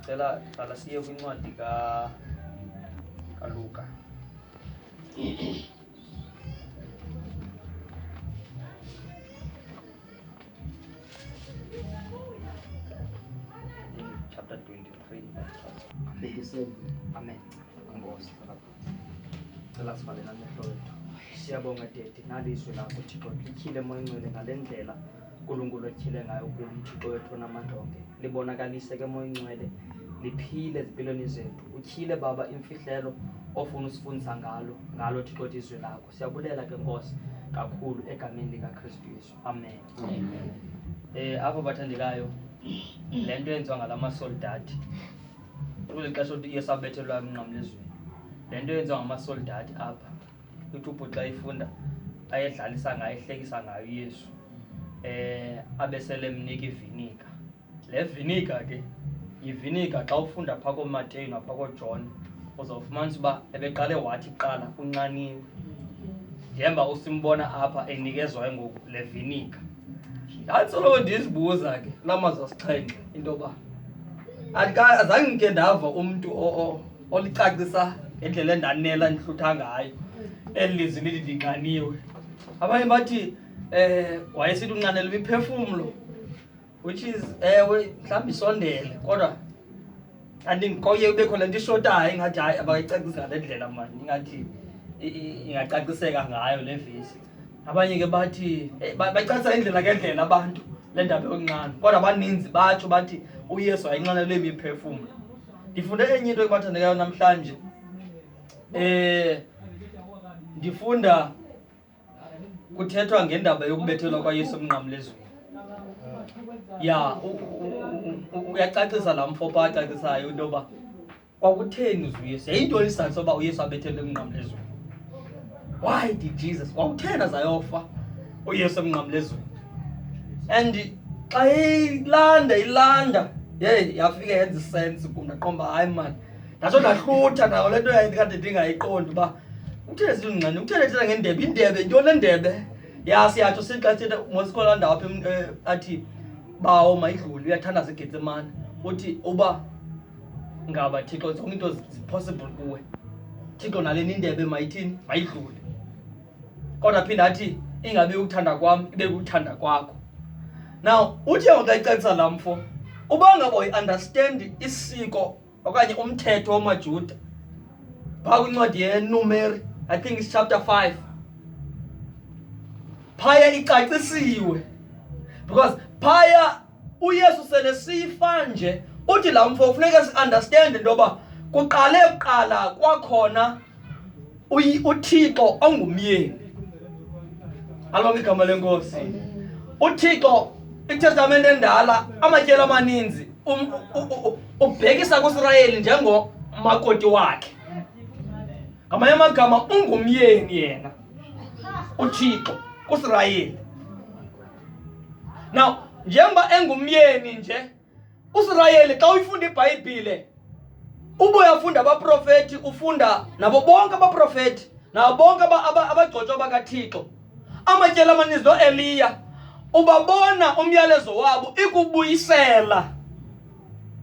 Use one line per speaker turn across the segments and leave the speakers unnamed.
Cela qala siye kwincwadi ka kaLuka. chapter 23 Amen. Amen. Cela sivale namehlo wethu. Siyabonga Tete nalizwi lakho Thixo lityhile moya ngcwele ngale ndlela uNkulunkulu etyhile ngayo kulo uThixo wethu onamandla onke. Libonakalise ke moya ngcwele liphile ezimpilweni zethu. Utyhile Baba imfihlelo ofuna usifundisa ngalo ngalo Thixo wethu izwi lakho. Siyabulela ke Nkosi kakhulu egameni likaKristu Yesu. Amen. Amen. Eh apho bathandekayo le nto yenziwa ngala masoldati Kweli xesha uthi iye sabethelwa emnqamlezweni. Le nto yenziwa ngamasoldati apha. Uthi ubhuti xa ifunda ayedlalisa ngayo, ehlekisa ngayo uYesu. Eh abe sele emnika iviniga. Le viniga ke yiviniga xa ufunda phaa kooMateyu naphaa kooJohn uzawufumanisa uba ebeqale wathi kuqala unxaniwe. Njemba usimbona apha enikezwa ke ngoku le viniga. Ndandisolo ndizibuza ke kula mazwi asixhenxe into yoba andika- azange ndike ndava umntu o- o- olicacisa ngendlela endanela ndihlutha ngayo eli lizwi lithi ndinxaniwe abanye bathi um wayesithi unxanelwa imiphefumlo which is ewe mhlawumbi isondele kodwa andinkoye kubekho le nto ishotayo ingathi hayi abakayicacisi ngale ndlela mani ingathi i- i- ingacaciseka ngayo le vesi abanye ke bathi eh, ba- bacacisa indlela ngendlela abantu le ndaba yokunxana kodwa abaninzi batsho bathi uyesu ayinxanelwe imiphefumlo ndifunde enye into ebathandekayo namhlanje um ndifunda kuthethwa ngendaba yokubethelwa kwayesu emnqamlezweni ya u- u- u- u- uyacacisa la mfo pha acacisayo into yoba Kwakutheni uze uYesu? Yayintoni isizathu soba uYesu abethelwe emnqamlezweni? Why did Jesus? Kwakutheni azayofa uYesu emnqamlezweni? And xa ilanda ilanda, hey yafika yenza isense kum ndaqomba hayi mani. Ndatsho ndahlutha nayo le nto yayikade ndingayiqondi uba kutheni zilungcane, kutheni ethetha ngendebe, indebe, yintoni le ndebe? Ya siyatsho sixa ethetha mosikhona ndawo apha eh, athi bawo mayidlule uyathandaza eGetsemane uthi uba ngaba thixo zonke into zipossible kuwe thixo nale nindebe mayithini mayidlule kodwa phinde athi ingabe ukuthanda kwam ibe kuthanda kwakho now uthi ngoxa icacisa la mfo uba ngaba uyiunderstand isiko okanye umthetho wamajuda phaa kwincwadi yenumeri i think is chapter 5 phaya icacisiwe because phaya uYesu sele sifa nje uthi la mfo kufuneka siunderstand into yoba kuqale kuqala kwakhona uThixo ongumyeni alibonga igama lenkosi uThixo iTestamente endala amatyelo amaninzi um, ubhekisa kuIsrayeli njengomakoti wakhe ngamanye amagama ungumyeni yena uThixo kuIsrayeli Now, njengoba engumyeni nje uSirayeli xa uyifunda iBhayibhile ubuye afunda abaprofeti ufunda nabo bonke abaprofeti nabo bonke abagcotshwa bakaThixo amatyela amaninzi noEliya ubabona umyalezo wabo ikubuyisela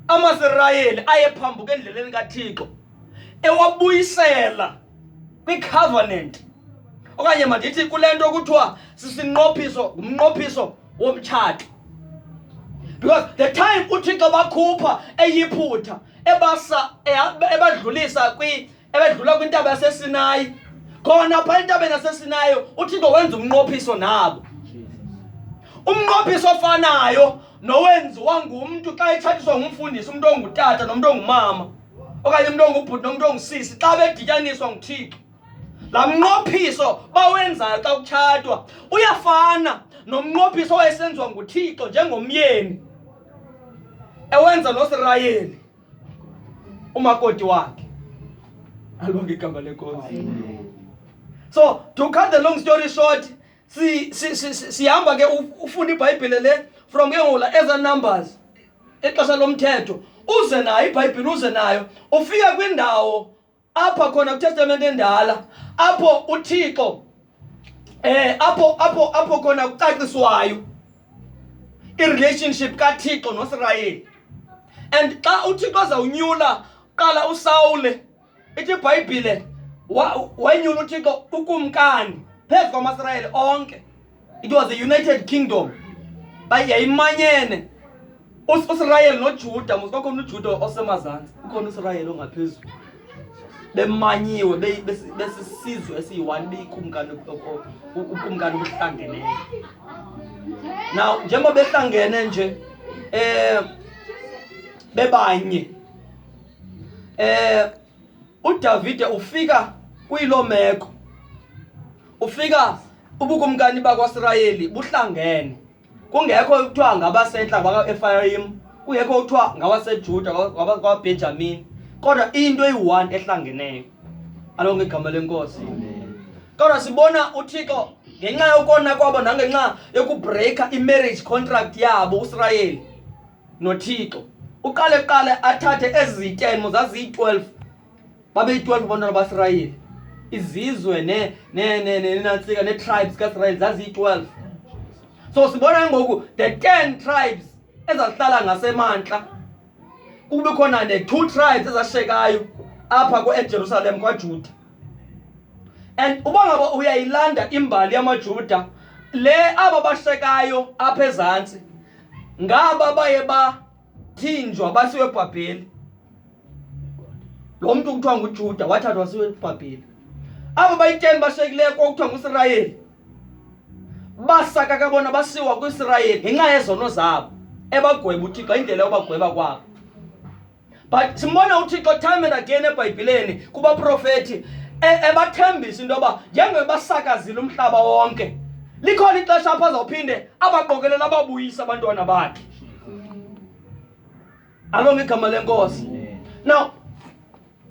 amaSirayeli ayephambuka endleleni kaThixo ewabuyisela kwicovenant okanye mandithi kule nto kuthiwa sisinqophiso ngumnqophiso womtshato because the time uthixo bakhupha eyiphutha ebasa ebadlulisa kwi ebedlula kwintaba yasesinayi khona pha entabeni yasesinayo uthixo wenza umnqophiso nabo umnqophiso ofanayo nowenziwa ngumntu xa etshatiswa ngumfundisi umntu ongutata nomntu ongumama okanye umntu ongubhuti nomntu ongusisi xa bedityaniswa nguthixo laa mnqophiso bawenzayo xa kutshatwa uyafana nomnqophiso owayesenziwa nguthixo njengomyeni ewenza nosirayeli umakoti wakhe alonge igama lenkosi so to cut the long story short sihamba si, si, si, ke ufunda ibhayibhile le from ke ngoku la eza numbers ixesha lomthetho uze nayo ibhayibhile uze nayo ufika kwindawo apha khona kwitestamente endala apho uthixo eh apho apho apho khona kucaciswayo irelationship kathixo nosirayeli and xa uthixo azawunyula qala usawule ithi ibhayibhile wayenyula uthixo ukumkani phezu kwamasirayeli onke it was a united kingdom yayimanyene usirayeli nojuda musikwakhona ujuda osemazantsi ukhona usirayeli ongaphezulu bemanyiwe besisizwe esiyi-one beyikumkani ukumkani obuhlangeneyo now njengoba behlangene nje um bebanye Eh uDavide ufika kuyilo meko. Ufika ubukumkani bakwaSirayeli buhlangene. Kungekho ukuthiwa ngabasentla bakwaEfrayim, kungekho ukuthiwa ngabaseJuda kwaBenjamin. Kodwa into eyi-one ehlangeneyo. Alo ngegama lenkosi. Kodwa sibona uThixo ngenxa yokona kwabo nangenxa yokubreaka i-marriage contract yabo uSirayeli nothixo uqale kuqale athathe ezi zityenmo zaziyi-12 babeyi-12 abantwana basirayeli izizwe nenantsika nee-tribes kaisrayeli zaziyi-12 so sibona ngoku the 10 tribes ezazihlala ngasemantla kube khona ne-two tribes ezashekayo apha kuejerusalem kwajuda and uba ngaba uyayilanda imbali yamajuda le aba bashekayo apha ezantsi ngaba baye bathinjwa basiwe ebhabheli lo mntu kuthiwa ngujuda wathathwa siwe ebhabheli abo bayiteni bashiyekileyo kwakuthiwa nguisrayeli basakaka bona basiwa kwisirayeli ngenxa yezono zabo ebagweba uthixo indlela yobagweba kwabo but simbona uthixo time and again ebhayibhileni kubaprofeti e-, ebathembisa into yoba njengoba basakazile umhlaba wonke likhona ixesha apho azawuphinde abaqokelele ababuyise abantwana bakhe alonge igama lenkosi now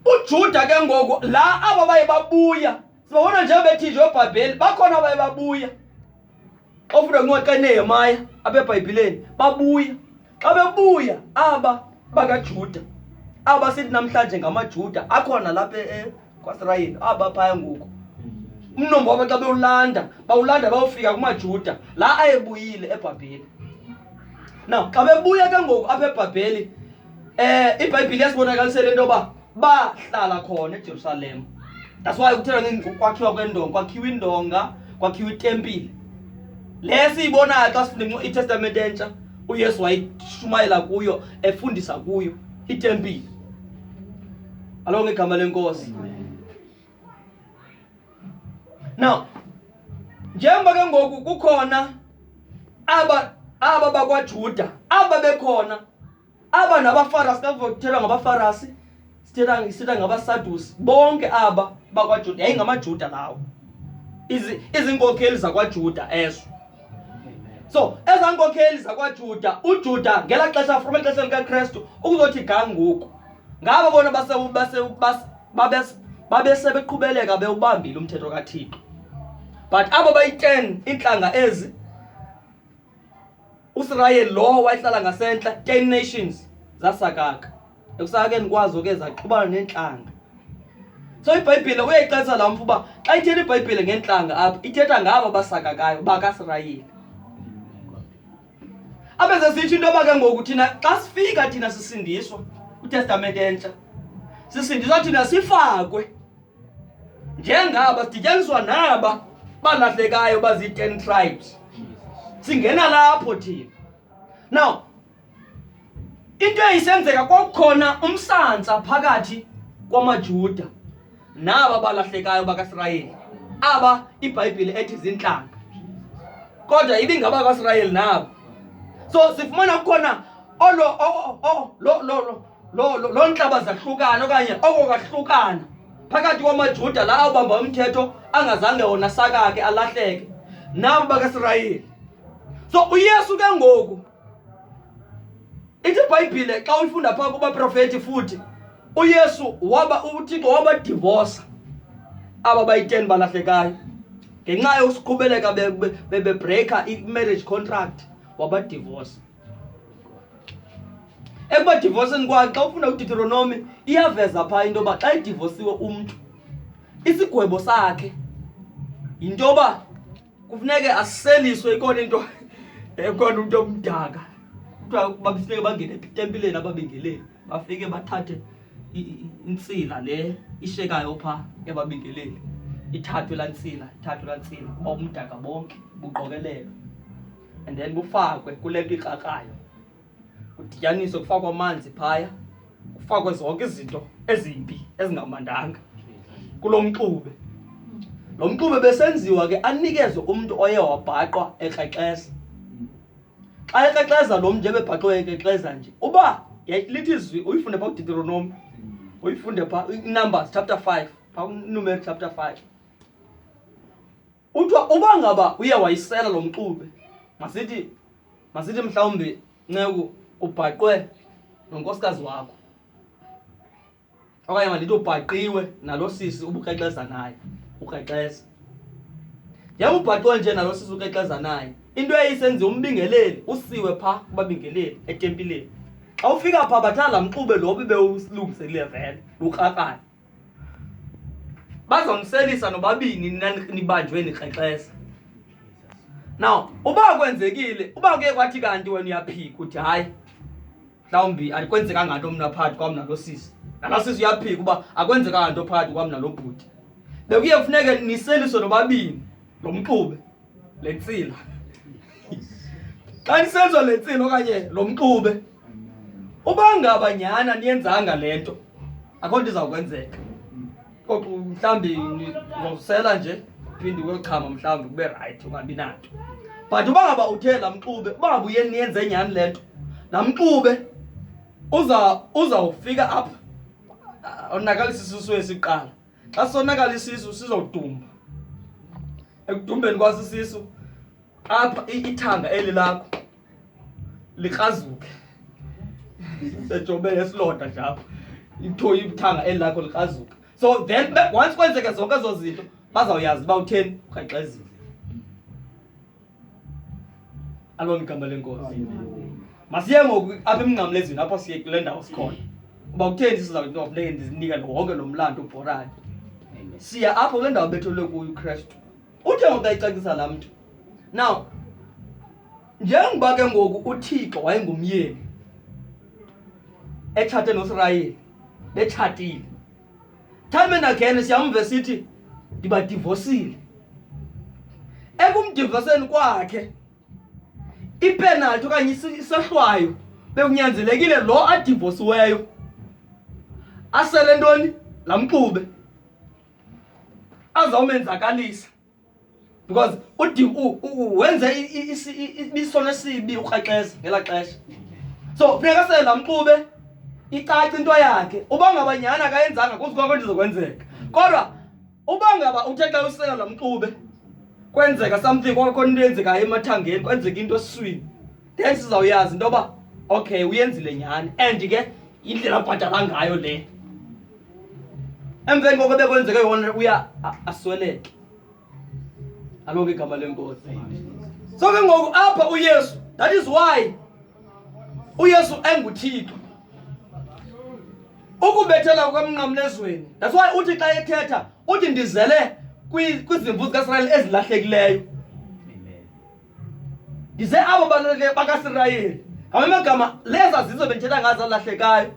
ujuda ke ngoku la aba baye babuya sibabona njengobethi nje obhabheli bakhona abaye babuya ofuna kuncoxe nehemaya apha ebhayibhileni babuya xa bebuya aba bakajuda aba sithi namhlanje ngamajuda akhona lapha e, e, kwasirayeli aba phaya ngoku umnombo wabo xa bewulanda bawulanda bawufika kumajuda la ayebuyile ebhabheli na xa bebuya ke ngoku apha ebhabheli um ibhayibhile yasibonakalisela into yoba bahlala khona eJerusalem that's why kuthela ngokwakhiwa kwendonga kwakhiwa indonga kwakhiwa itempile le siyibonayo xa sifunde itestamente entsha uyesu wayishumayela kuyo efundisa kuyo itempile alo ngegama lenkosi now njengoba ke ngoku kukhona aba aba bakwajuda aba bekhona aba nabafarasi kavothelwa ngabafarasi sithetha sithetha ngabasadusi bonke aba bakwajuda yayingamajuda lawo izinkokheli zakwajuda ezo so ezaa nkokheli zakwajuda ujuda ngela xesha from exesha likakrestu ukuzothi ga ngoku ngabo bona babesebeqhubeleka bewubambile umthetho kathixo but abo bayi-ten iintlanga ezi usirayeli lowo wayehlala ngasentla ten nations zasakaka ekusakakeni kwazo ke zaxhubana neentlanga so ibhayibhile uyayixelisa la mfu uba xa ithetha ibhayibhile ngeentlanga apha ithetha ngabo basakakayo bakasirayeli abe sesitsho into yoba ke ngoku thina xa sifika thina sisindiswa utestamente entsha sisindiswa thina sifakwe njengaba sidityaniswa naba balahlekayo bazii-ten tribes singena lapho thina now into eyisenzeka kwakukhona umsantsa phakathi kwamajuda naba balahlekayo bakasirayeli aba ibhayibhile ethi zintlanga kodwa ibingaba kwasirayeli nabo so sifumana kukhona olo lo lo loo lo, lo ntlaba zahlukana okanye oko kahlukana phakathi kwamajuda la awubamba umthetho angazange wona sakake alahleke nabo bakasirayeli so uyesu ke ngoku ithi ibhayibhile xa uyifunda phaa kubaprofeti futhi uyesu waba uthixo wabadivosa aba bayiteni balahlekayo ngenxa yokusiqhubeleka bebreaka be, be i-marriage contract wabadivosa ekubadivoseni kwakhe xa ufunda udeuteronomi iyaveza phaa into yoba xa edivosiwe umntu isigwebo sakhe yinto yoba kufuneke aseliswe ikona into ekona umntu omdaka kuthiwa babefuneke bangene etempileni ababingeleli bafike bathathe intsila le ishekayo phaa ebabingeleli ithathwe laa ntsila ithathwe laa ntsila uba umdaka bonke buqokelelwe and then bufakwe kule nto ikrakrayo kudityaniswe kufakwe amanzi phaya kufakwe zonke izinto ezimbi ezingamandanga kulo mxube lo mxube besenziwa ke anikezwe umntu oye wabhaqwa ekrexeza xa ekrexeza lo mntu nje bebhaqwe ekrexeza nje uba lithi izwi uyifunde phaa kuditeronomi uyifunde phaa inumbers chapter five phaa numeri chapter five Kuthiwa uba ngaba uye wayisela lo mxube, masithi masithi mhlawumbi nceku ubhaqwe nonkosikazi wakho okanye mandithi ubhaqiwe nalo sisi ubukrexeza naye ukrexeza njengoba ubhaqiwe nje nalo sisi ukrexeza naye into eyisenziwa umbingeleli usiwe pha kubabingeleli etempileni xa ufika pha bathanda mxube lo bebewulungiselile vele lukrakrana bazomselisa nobabini nibanjwe nikrexesa now uba kwenzekile uba kuye kwathi kanti wena uyaphika uthi hayi mhlawumbi akwenzekanga nto mna phakathi kwam nalo sisi nalo sisi uyaphika uba akwenzekanga nto phakathi kwam nalo bhuti bekuye kufuneke niseliswe nobabini lo mxube le ntsila xa nisenza le ntsila okanye lo mxube uba ngaba nyhana niyenzanga le nto akho nto izawukwenzeka koxa mhlawumbi ngozisela nje phinde uyochama mhlawumbi kube rayithi ungabi nanto but uba ngaba uthe la mxube uba ngaba uye niyenze nyhani le nto la mxube uzawufika apha onakalisa isisu esiqala xa sonakala isisu sizodumba ekudumbeni kwasi isisu apha ithanga eli lakho likrazuke sejobele esilonda nje apha ithoyi ithanga eli lakho likrazuke so then once kwenzeke zonke ezo zinto bazawuyazi uba utheni ukhexezile alona igama lenkosi masiye ngoku apha emnqamlezweni apho siye kule ndawo sikhona uba kutheni sizawuthi noba funeke ndizinika wonke lo mlando ubhorani siya apho kule ndawo betholwe kuyo ukristu uthe ngoku ayicacisa laa mntu now njengoba ke ngoku uthixo wayengumyeni etshate nosirayeli betshatile time and again siyamve sithi ndibadivosile ekumdivoseni kwakhe ipenalty okanye isohlwayo bekunyanzelekile lo adivosiweyo asele ntoni laa mxube azawumenzakalisa because udi wenze ibisono esibi urhaxeza ngela xesha so funeka sela mxube icaca into yakhe uba ngaba nyhani akayenzanga kuzi kwakho ndizokwenzeka kodwa uba ngaba uthe xa usela la mxube kwenzeka something kwakhona into eyenzekayo emathangeni kwenzeka into eswini then sizawuyazi into yoba okay uyenzile nyhani and ke indlela abhatala ngayo le emveni koko bekwenzeke yona uya asweleke alonke igama lenkosi so ke ngoku apha uyesu that is why uyesu enguthixo ukubethela kwemnqamlezweni that's why uthi xa ethetha uthi ndizele kwizimvu zikaisrayeli ezilahlekileyo Ndize abo bantwana bakaSirayeli ngamamagama leza zizo bendithetha ngazo alahlekayo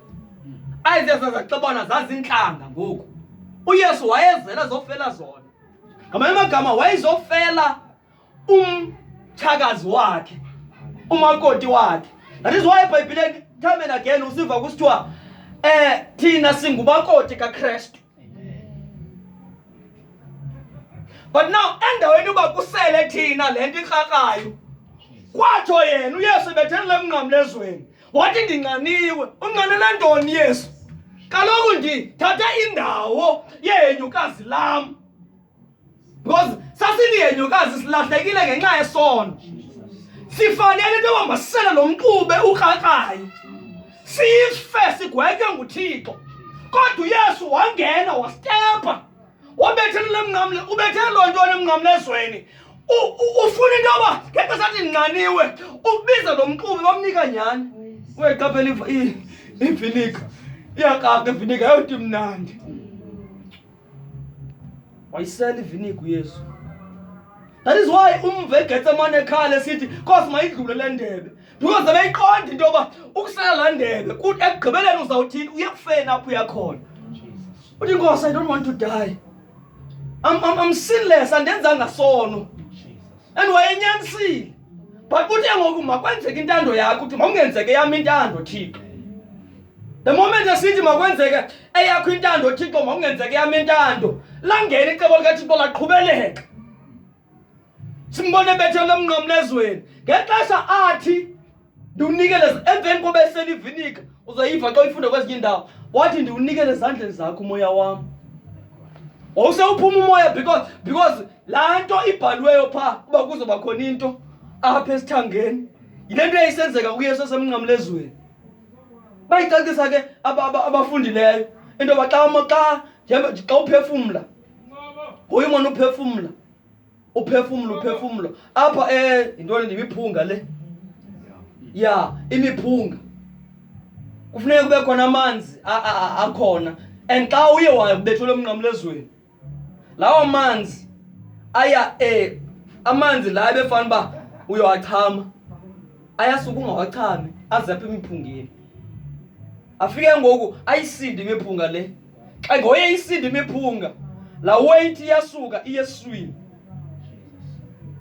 ayizeza zaxabana zazintlanga ngoku uyesu wayezela zofela zona ngamanye amagama wayezofela umtshakazi wakhe umakoti wakhe that is why ebhayibhileni time and again usiva kusithiwa um thina singumakoti kakrestu but now endaweni uba kusele thina le nto ikrakayo kwatsho yena uyesu ebethelele emnqamlezweni wathi ndinqaniwe unqanele ntoni yesu kaloku ndithathe indawo yenu kazi lam because sasiliyenyokazi silahlekile ngenxa yesono sifanele into yoba masisele lo mxube ukrakrayo sife sigwetywe nguthixo kodwa uyesu wangena wastepha wabethelela emnqamle ubethele loo nto onemnqamlezweni ufuna into yoba ngexesha athi ndinqaniwe ubize lo mxube bamnika nyhani uyeqaphela ivinika iyakaka ivinika yayoti mnandi wayisela ivinigu yesu that is why umva egetsemane ekhala esithi nkosi mayidlule le ndebe because beyiqonda into yoba ukusela laa ndebe kuthi ekugqibeleni uzawuthini uye kufeni apho uyakhona uthi nkosi i don't want to die I'm, I'm, I'm sinless andenzanga sono and wayenyanisile but kuthe ngoku makwenzeke intando yakho uthi mawungenzeke yam intando thixo the moment esithi makwenzeke eyakho intando thixo makungenzeke yam intando langena icebo likathixo laqhubeleka simbone bethe lomnqamla ezweni ngexesha athi ndiwunikele emveni koba eselivinika uzoyiva xa uyifunde kwezinye indawo wathi ndiwunikele ezandleni zakho umoya wam wawusewuphuma umoya because because laa nto ibhaliweyo phaa uba kuzoba khona into apha esithangeni yile nto yayisenzeka kuyesu esemnqamla ezweni bayicacisa ke abafundileyo into yoba xa xa xa uphefumla nguye umona uphefumla uphefumlo uphefumlo apha eh yintoni ndimiphunga le ya imiphunga kufuneka kube khona amanzi akhona and xa uye wabethelwa emnqamlezweni lawo manzi aya e amanzi la ebefana uba uyowachama ayasuka ungawachami azapha emiphungeni afike ngoku ayisinde imiphunga le xa ngoye isinde imiphunga la weight iyasuka iyeswini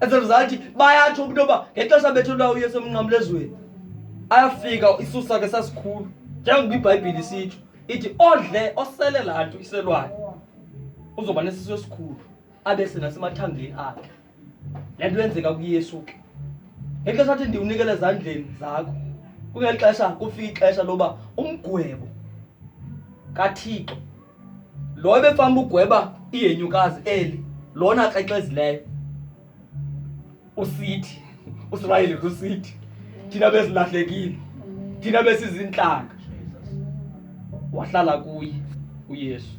as a result bayatsho umntu yoba ngexesha bethelwa uyesu emnqamlezweni ayafika isisakhe sasikhulu njengoba ibhayibhile isitsho ithi odle osele laa nto iselwayo uzoba nesisu esikhulu abe senasemathangeni akhe le nto yenzeka kuyesu ke ngexesha athi ndiwunikele ezandleni zakho kungeli xesha kufika ixesha loba umgwebo kathixo lo ebefanele ugweba ihenyukazi eli lona xexezileyo usithi usirayeli kusithi thina besilahlekile thina besizintlanga wahlala kuye uyesu